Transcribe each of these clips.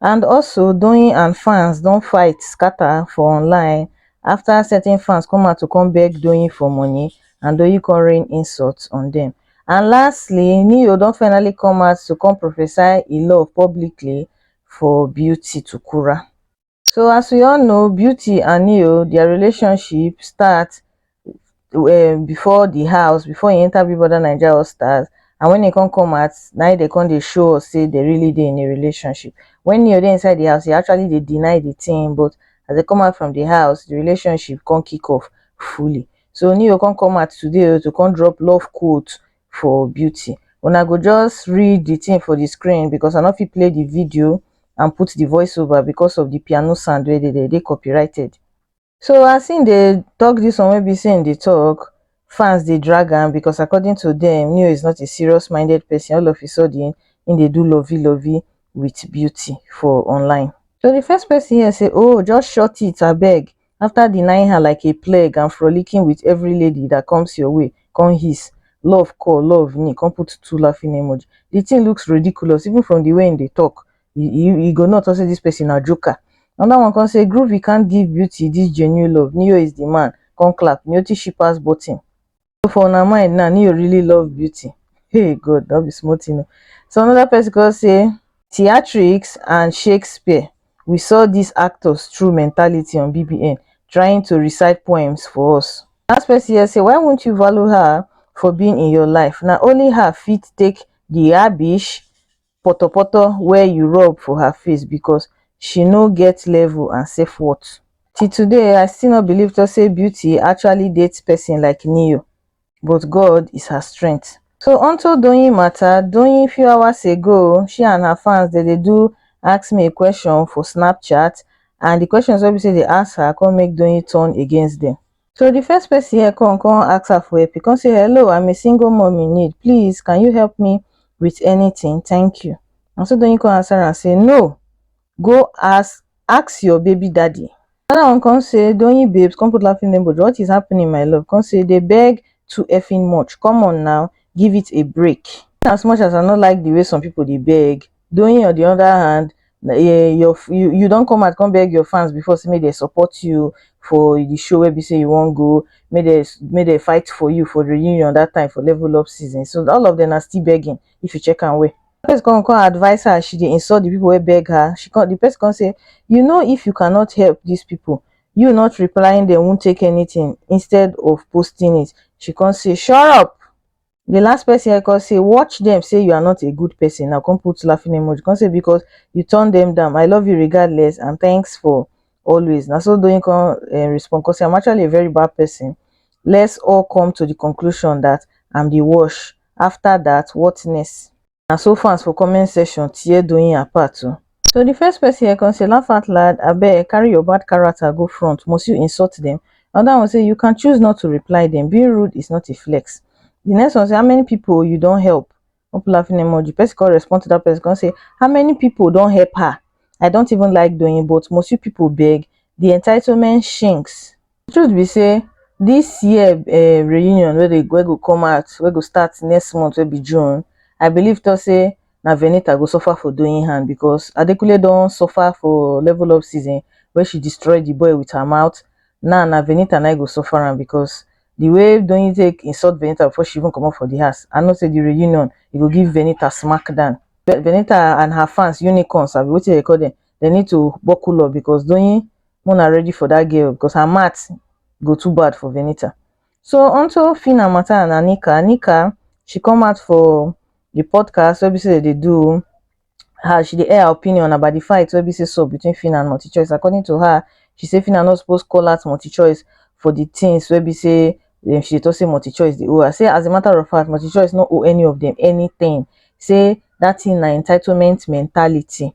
and also doyin and fans don fight scata for online afta certain fans come out to come beg doyin for money and doyin come rain insults on dem and lastly ne-yo don finally come out to come prophesy e love publicly for beauty tukura so as we all know beauty and ne-yo dia relationship start um before the house before e enter big brother naija all stars and when e come come out na im dey come dey show us sey dey really dey in a relationship when neo dey inside the house e actually dey deny the thing but as e come out from the house the relationship come kick off fully so neo come come out today o to come drop love quote for beauty una go just read the thing for the screen because i no fit play the video and put the voice over because of the piano sound wey dey there e dey copyrighted so as him dey talk this one wey be say him dey talk fans dey drag am because according to them neo is not a serious minded person all of a sudden him dey do lovey lovey with beauty for online so the first person here say oh just short it abeg after denying her like a plague and frolicking with every lady that comes your way come hiss love call love ni come put two laughing emoji the thing looks ridiculous even from the way him dey talk you you you go know talk say this person na joker another one come say groovy can't give beauty this genuine love neo is the man come clap neo too she pass button so for una mind now neo really love beauty hey god that be small thing o so another person come say theatrics and shakespeare we saw these actors through mentality on bbn trying to recite poems for us last person here say why won't you value her for being in your life na only her fit take the rubbish potopoto wey you rub for her face because she no get level and self worth. Till today I still no believe to say Beauty actually date person like Ne-Yo but God is her strength. So onto Doyin matter, Doyin few hours ago she and her fans dem dey do ask me a question for snapchat and the questions wey be say dey ask her come make Doyin turn against dem. so the first person here come come ask her for help he come say hello i'm a single mom in need please can you help me with anything thank you and so Doyin come answer and say no go ask ask your baby daddy that one come say Doyin babes come put laughing emoji what is happening my love come say they beg too effing much come on now give it a break as much as i no like the way some people they beg Doyin on di oda hand, you don come out come beg your fans before sey make dem support you for di show wey be sey you wan go, make dem make dem fight for you for reunion dat time for level up season, so all of dem na still begging if you check am well. Person come come advice her as she dey insult di pipu wey beg her, she come di person come sey, you know if you cannot help dis pipu, you not replying dem won't take anything instead of posting it, she come sey, shurup! the last person I come say watch them say you are not a good person I come put laughing emoji come say because you turn them down I love you regardless and thanks for always na so Doyin come uh, respond come say I'm actually a very bad person let's all come to the conclusion that I'm the worst after that what next Na so fans for comment section tear Doyin apart o. So the first person here come say laugh out loud abeg carry your bad character go front must you insult them? Another one say you can choose not to reply them being rude is not a flex. The next one say how many people you don help? Hope laughing emoji. Person come respond to that person come say how many people don help her? I don't even like Doyin but must you people beg? The entitlement shinks. the truth be sey this year um reunion wey dey wey go come out wey go start next month wey be june i believe talk say na venita go suffer for doing hand because adekunle don suffer for level up season wey she destroy the boy with her mouth now na venita na him go suffer am because the way doyin take insult venita before she even comot for the house i know say the reunion e go give venita smack down venita and her fans unicorns abi wetin dem dey call dem they need to buckle up because doyin Muna ready for that girl because her mat go too bad for Venita. So onto Fina Mata and Anika. Anika, she come out for the podcast where say they do her she dey air her opinion about the fight wey be say so between Fina and Multi Choice. According to her, she say Fina no suppose call out Multi Choice for the things wey be say um, she dey talk say Multi Choice dey owe her. Say as a matter of fact, Multi Choice no owe any of them anything. Say that thing na entitlement mentality.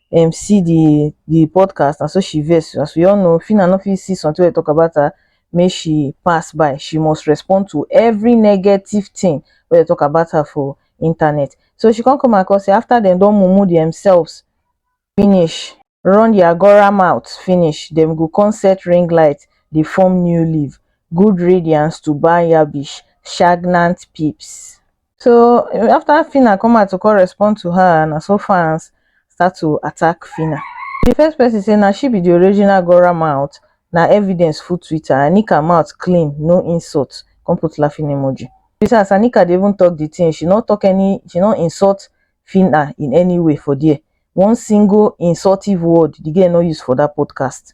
um see the the podcast na so she vex as we all know phyna no fit see something wey talk about her make she pass by she must respond to every negative thing wey dey talk about her for internet so she come come across say after dem don mumu themselves finish run their gora mouth finish dem go come set ring light dey form new leaf good riddance to barnyabish shagnant peeps so after Phyna come out to come respond to her na so fans start to attack Phyna the first person say na she be the original Gora mouth na evidence full Twitter Anika mouth clean no insult come put laughing emoji you see as Anika dey even talk the thing she no talk any she no insult Phyna in any way for there one single insultive word the girl no use for that podcast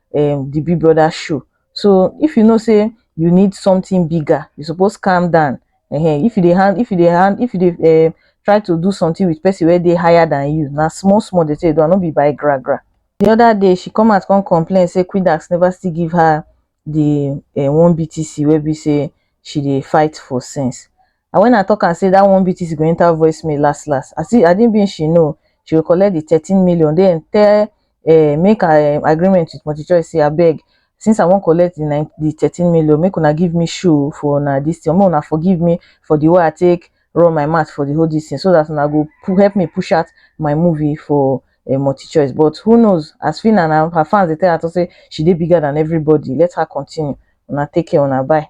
um the big brother show so if you know say you need something bigger you suppose calm down um if you dey hand if you dey hand if you dey um try to do something with person wey dey higher than you na small small dey take do am no be by gra gra the other day she come out come complain say quidax never still give her the um one BTC wey be say she dey fight for since and when I talk am say that one BTC go enter voice mail last last I see I didn't mean she know she will collect the 13 million then tell uh, make her um, agreement with multichoice say abeg since I won't collect the, 9, the 13 million make una give me shoe for una this thing make una forgive me for the way I take run my mouth for the whole this thing so that una go help me push out my movie for a multi choice. But who knows? As Fina and her fans, they tell her to say she did bigger than everybody. Let her continue. Una take care, una bye.